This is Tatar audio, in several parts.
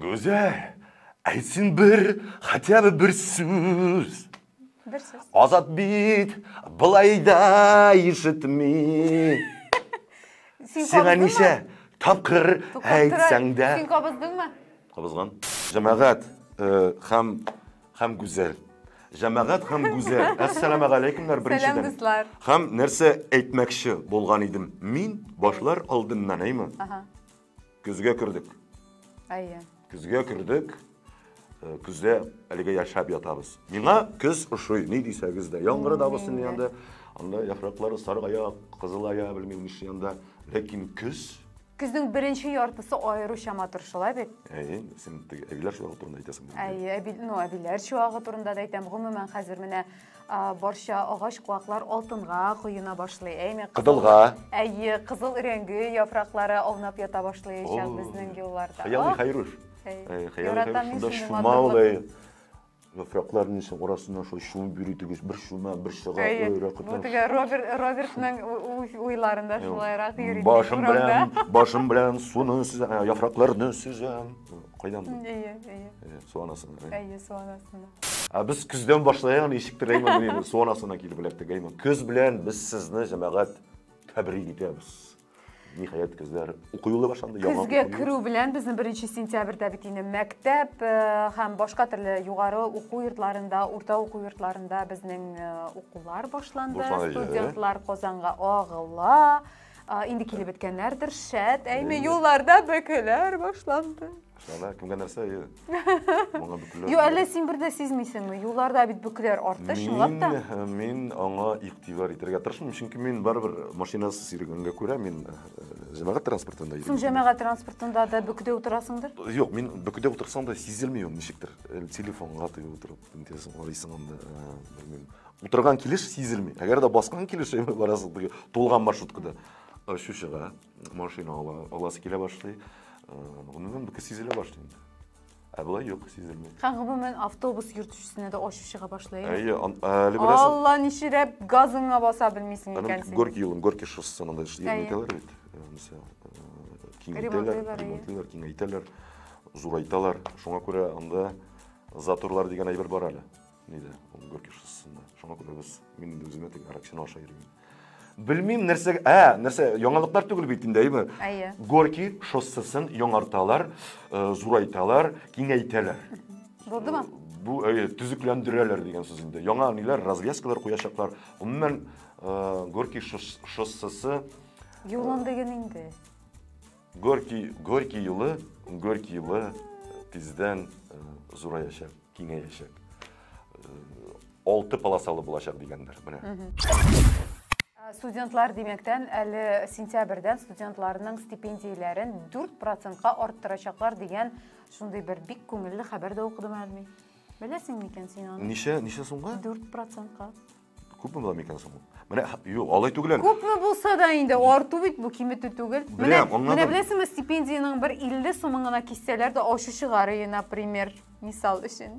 Гүзәл, әйтсен бер, хотя бы бер сүз. Бер сүз. Азат бит, былай да ишетми. Сиңа ничә тапкыр әйтсәң дә. Син кабыздыңмы? Кабызган. Җәмәгать, э, һәм Хәм гүзәл. Җәмәгать хәм гүзәл. Әссәламә галәйкүмнәр беренчедән. Сәлам дуслар. Хәм нәрсә әйтмәкче булган идем. Мин башлар алдыннан, әйме? Ага. Көзгә кердек. Әйе. Көзгә кердек. Э, көздә әлегә яшәп ятабыз. Миңа көз ошый, ни дисәгез дә. Яңгыры да булсын янда. Анда яфраклары саргая, кызылая, белмим ничә янда. Ләкин көз Көзнең беренче яртысы аеруча матур, шулай бит? Әйе, син теге әбиләр чуагы турында әйтәсең. Әйе, әби, ну, әбиләр чуагы турында да әйтәм. Гомумән, хәзер менә барча агач куаклар алтынга коена башлый. Әйме, кызылга. Әйе, кызыл рәңге яфраклары аунап ята башлый икән безнең юлларда. Хыялый Хайруш. Яратам мин шундый матурлык. Яфраклар нисең арасыннан шулай чумып йөри тегүс, бер чума, бер чыга, Әйе. ой, рәхәт. Бу теге Роберт, Робертның у- у- уйларында шулайрак йөри. тик Башым урамда. белән, башым белән суны сөзәм, ә, яфракларны сөзәм. Кайдан бу? Әйе, әйе. Әйе, Су анасына. әйе. Әйе, су анасына. Ә без көздән башлаягын ничек теләймен мин, су анасына килеп эләктек, әйме. Көз белән без сезне, җәмәгать, тәбрик итәбез. Ниһаять, көзләр уку юлы башланды. Көзгә керү белән безнең беренче сентябрьдә бит инде мәктәп э, һәм башка төрле югары уку йортларында, урта уку йортларында безнең э, укулар башланды. Студентлар Казанга агыла. Инде килеп беткәннәрдер, шәт, әйме юлларда бәкеләр башланды. Шәлә, кемгә нәрсә, ие? Моңа бөкләр. Ю, әллә син бер дә сизмисеңме? Юлларда бит бөкләр артты, чынлап та. Э, мин аңа игътибар итәргә тырышмыйм, чөнки мин барыбер машинасы сирегәнгә күрә, мин э, җәмәгать транспортында йөрим. Соң җәмәгать транспортында да бөкедә утырасыңдыр? Юк, мин бөкедә утырсам да сизелми ул ничектер. Э, телефонга тыгып утырып, интесен карыйсың анда, белмим. Утырган килеш сизелми. Әгәр дә баскан килеш барасың, тулган маршруткада очучыга. машина ала, аласы килә башлый. Гомумән, бу сизелә башлый инде. Ә болай юк, сизелми. Һәм гомумән автобус йөртүчесенә дә ачу чыга башлый. Әйе, әле беләсең. Алла ничирәп газыңа баса белмисең икән син. Горки юлын, Горки шоссесына да җитмәтәләр бит. Мисал, киңәйтәләр, ремонтлыйлар, киңәйтәләр, зурайталар. Шуңа күрә анда заторлар дигән әйбер бар әле. Нидә? Ул Горький шоссесында. Шуңа күрә без мин инде үземә теге аракчаны аша йөрмим. Белмим нәрсә, ә, нәрсә, яңалыклар түгел бит инде, әйме? Әйе. Горький шоссесын яңарталар, э, зурайталар, киңәйтәләр. Булдымы? Бу әйе, төзекләндерәләр дигән сүз инде. Яңа ниләр, развязкалар куячаклар. Гомумән, э, Горький шоссесы Юлын диген инде. Горький, Горький юлы, Горький юлы тиздән зураячак, киңәячәк. Алты полосалы булачак дигәннәр, менә. Э, студентлар димәктән әле сентябрьдән студентларның стипендияләрен 4 процентка арттырачаклар дигән шундый бер бик күңелле хәбәр дә укыдым әлми. Беләсең микән син аны? Ничә, ничә сумга? 4 процентка. Күпме була микән соң ул? Менә юк, алай түгел әле. Күпме булса да инде арту бит бу киметү түгел. Менә менә беләсеңме, стипендиянең бер 50 сумын гына киссәләр дә ачу чыгар иде, например, мисал өчен.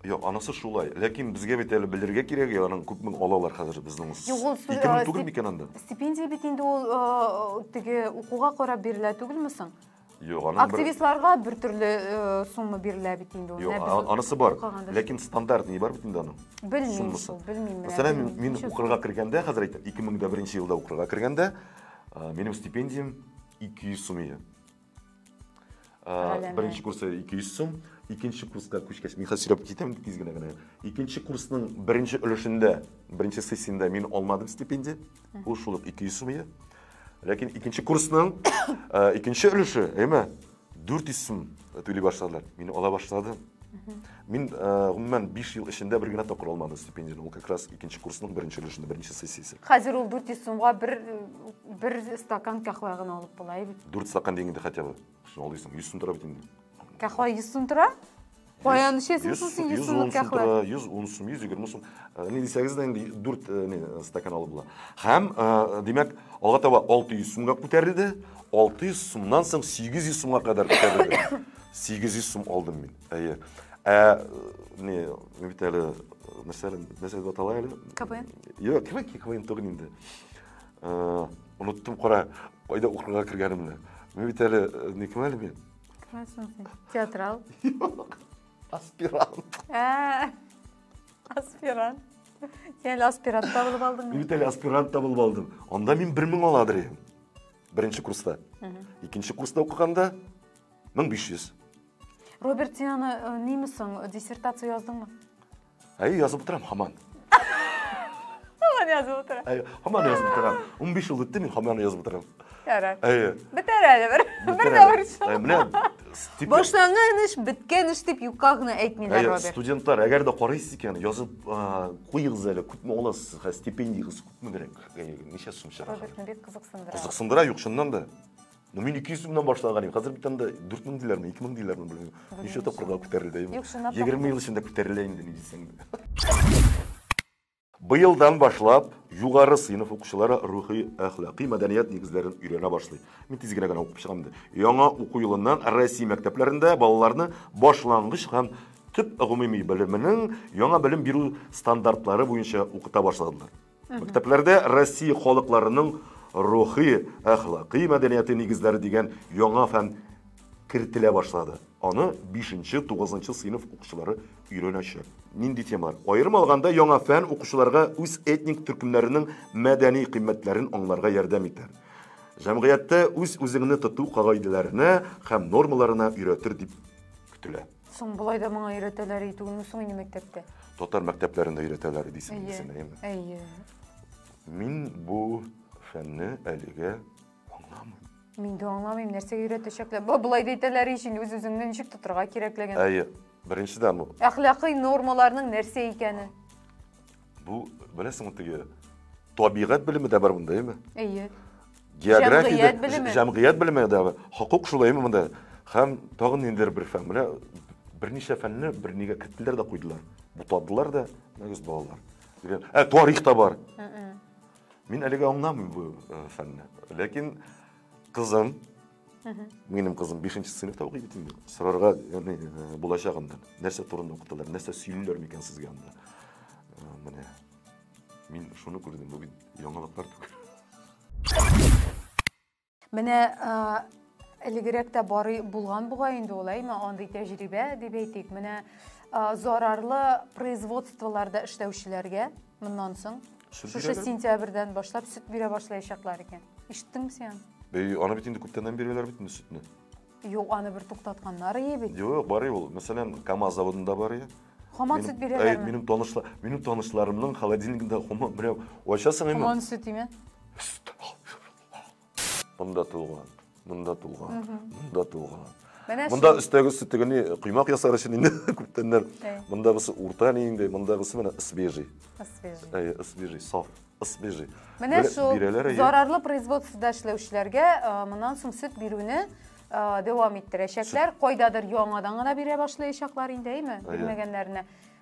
Юк, анысы шулай. Ләкин безгә бит әле белергә кирәк, аның күпме алалар хәзер безнең. Юк, ул сүз түгел микән анда? Стипендия бит инде ул теге укуга карап бирелә түгелме соң? Юк, аның бер... Активистларга бер төрле э, сумма бирелә бит инде ул. Юк, Менә без а- анысы бар. укыганда. Ләкин стандарт ни бар бит инде аның. Белмим суммасы. шул, белмим менә. Мәсәлән, мин, мин Ничек? укырга кергәндә, хәзер әйтәм, 2001 елда укырга кергәндә, а, минем стипендиям 200 сум иде. А, Галәмә. Беренче курсы 200 сум, икенче курска күчкәч, мин хәзер сөйләп китәм тиз генә генә. Икенче курсның беренче өлешендә, беренче сессиядә мин алмадым стипендия. Ул шул ук 200 сум иде. Ләкин икенче курсның э, икенче өлеше, әйме, 400 сум түли башладылар. Мин ала башладым. Мин э, гомумән 5 ел эчендә бер генә тапкыр алмадым стипендияне. Ул как раз икенче курсның беренче өлешендә, беренче сессиясе. Хәзер ул 400 сумга бер бер стакан кахва гына алып була бит. 4 стакан дигәндә хотя бы. Шул алдыйсың, 100 сум тора бит инде. Кахва 100 сум тора? Каян эчәсең соң син 100 сумлык кахва? 110 сум, 120 сум. Э, не дисәгез дә инде 4 э, не э, стакан алып була. Һәм, димәк, алга таба 600 сумга күтәрелде. 600 сумнан соң 800 сумга кадәр күтәрелде. 800 сум алдым мин. Әйе. Ә не, мин бит әле нәрсә нәрсә дип атала әле? КВН. Юк, КВН, КВН түгел инде. Оныттым кара, кайда укырга кергәнемне. Мин бит әле никем әле мин? Кемсең син? Театрал? Юк. Аспирант. Ә. Аспирант. Сен әле аспирант та булып алдың. Мин бит әле аспирант та булып алдым. Анда мин 1000 аладыр идем. Беренче курста. Икенче курста укыганда 1500. Роберт, син аны нимесең, диссертация яздыңмы? Әй, язып утырам хаман. Хаман язып утырам. Әй, хаман язып утырам. 15 ел үтте, мин хаман язып утырам. Ярар. Әй. Бетәр әле бер. Бер дә борчу. Әй, менә стипендия. Башланган эш, биткән эш дип юкка гына әйтмиләр, Роберт. Әй, студентлар, әгәр дә карыйсыз икән, язып куегыз әле, күпме аласыз, хә стипендиягыз күпме берәк? Әй, ничә сум чыгар? Робертны бик кызыксындыра. Кызыксындыра, юк, шуннан да. Ну, мин 200 сумнан башлаган идем. Хәзер бит анда 4000 диләрме, 2000 диләрме белмим. Ничә тапкырга күтәрелде. Юк, чынлап та 20 ел эчендә күтәрелә инде ни дисәң. Быелдан башлап югары сыйныф укучылары рухи әхлакый мәдәният нигезләрен өйрәнә башлый. Мин тиз генә генә укып чыгам инде. Яңа уку елыннан Россия мәктәпләрендә балаларны башлангыч һәм төп гомуми белеменең яңа белем бирү стандартлары буенча укыта башладылар. Мәктәпләрдә Россия халыкларының рухи, әхлакый мәдәнияте нигезләре дигән яңа фән кертелә башлады. Аны 5-9 сыйныф укучылары өйрәнәчәк. Нинди темалар? Аерым алганда, яңа фән укучыларга үз этник төркемнәренең мәдәни кыйммәтләрен аңларга ярдәм итәр. Җәмгыятьтә үз-үзеңне тоту кагыйдәләренә һәм нормаларына өйрәтер дип көтелә. Соң болай да моңа өйрәтәләр ди түгелме соң инде мәктәптә? Татар мәктәпләрендә өйрәтәләр дисең Әйе. син, әйеме? Әйе. Мин бу фәнне әлегә аңламыйм. Мин дә аңламыйм, нәрсәгә өйрәтәчәкләр. Ба, Болай да әйтәләр ич инде үз-үзеңне ничек тотарга кирәклеген. Әйе. Беренчедән ул Әхлакый нормаларның нәрсә икәне. Бу, беләсеңме, теге табигать белеме дә бар монда, әйме? Әйе. География, җәмгыять белеме дә бар. Хокук шулай әйме монда? Һәм тагын ниндидер бер фән. Менә берничә фәнне бер нигә кеттеләр дә куйдылар. Бутадылар да, мәгез балалар. Ә тарих та бар. Мин әлегә аңламыйм бу э, фәнне. Ләкин кызым Минем кызым 5 нче сыйныфта укый бит инде. Сорарга, ягъни, э, булачагында, нәрсә турында укыталар, нәрсә сөйлиләр микән сезгә анда? Э, Менә. Мин шуны күрдем, бу бит яңалыклар түгел. Менә а, элегрәк тә барый булган бугай инде ул, әйме, андый тәҗрибә дип әйтик. Менә а, зарарлы производстволарда эшләүчеләргә моннан соң Шушы сентябрьдән башлап сөт бирә башлаячаклар икән. Ишеттеңме син? Бәй, аны бит инде күптәннән бирәләр бит инде сөтне. Юк, аны бер туктатканнар ие бит. Юк, бар ул. Мәсәлән, КАМАЗ заводында бар ие. Хаман сөт бирәләр. Минем танышлар, минем танышларымның холодильнигында хаман берәү ачасың инде. Хаман сөт име? Монда туган, монда туган, монда туган. Менә Монда өстәге өсте тегене коймак ясар өчен инде күптәннәр. Монда бысы урта ни инде, монда бысы менә свежий. Свежий. Әйе, свежий, саф. Свежий. Менә шул зарарлы производствода эшләүчеләргә моннан соң сөт бирүне дәвам иттерәчәкләр. Кайдадыр яңадан гына бирә башлаячаклар инде, әйме? Бирмәгәннәренә.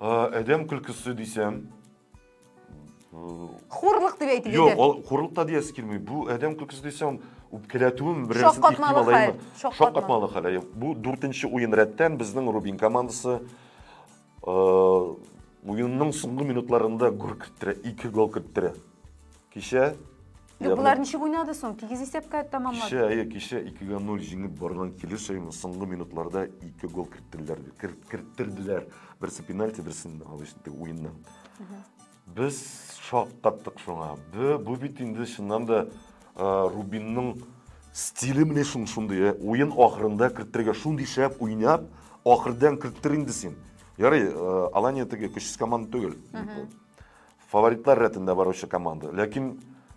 Әдәм көлкесе дисәм, Хурлык дип әйтеп Юк, ул хурлык та диясе килми. Бу адәм көлкесе дисәм, үпкәләтүем беренче ихтимал әйме. Шаккатмалы хәл. Бу дүртенче уен рәттән безнең Рубин командасы уенның соңгы минутларында гол керттерә, ике гол керттерә. Кичә Юк, Ягъни- болар ничек уйнады соң? Тигез исәпкә тәмамлады. Кичә, әйе, кичә 2-га 0 җиңеп барган килеш әйе, соңгы минутларда ике гол керттеләр, кер- керттерделәр. Берсе пенальти, берсен обычный уеннан. Без шаккаттык шуңа. Бе- Бу бит инде чыннан да э, Рубинның стиле менә шун шундый. э, Уен ахырында керттерергә шундый шәп уйнап, ахырдан керттер инде син. Ярый, э, Алания теге көчсез команда түгел. Фаворитлар рәтендә баручы команда. Ләкин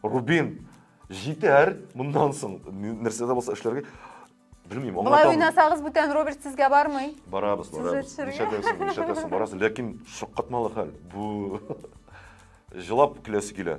Рубин җитәр моннан соң нәрсә дә булса эшләргә. Белмим, аңлатам. Болай уйнасагыз бүтән Роберт сезгә бармый. Барабыз, барабыз. Нишәдәсен, нишәдәсен барасы, ләкин шаккатмалы хәл. Бу җылап киләсе килә.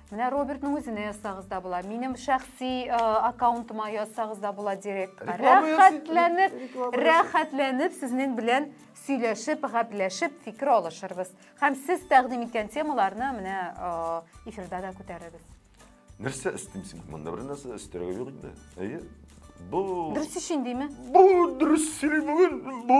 Менә Робертның үзенә язсагыз да була. Минем шәхси э, аккаунтыма язсагыз да була директ. Рәхәтләнеп, рәхәтләнеп сезнең белән сөйләшеп, гәпләшеп, фикер алышырбыз. Һәм сез тәкъдим иткән темаларны менә э, эфирда да күтәрербез. Нәрсә өстим син? Монда бер нәрсә өстерәгә юк инде. Әйе. Бу Дөрес өчен димме? Бу дөрес сөйли бүген. Бу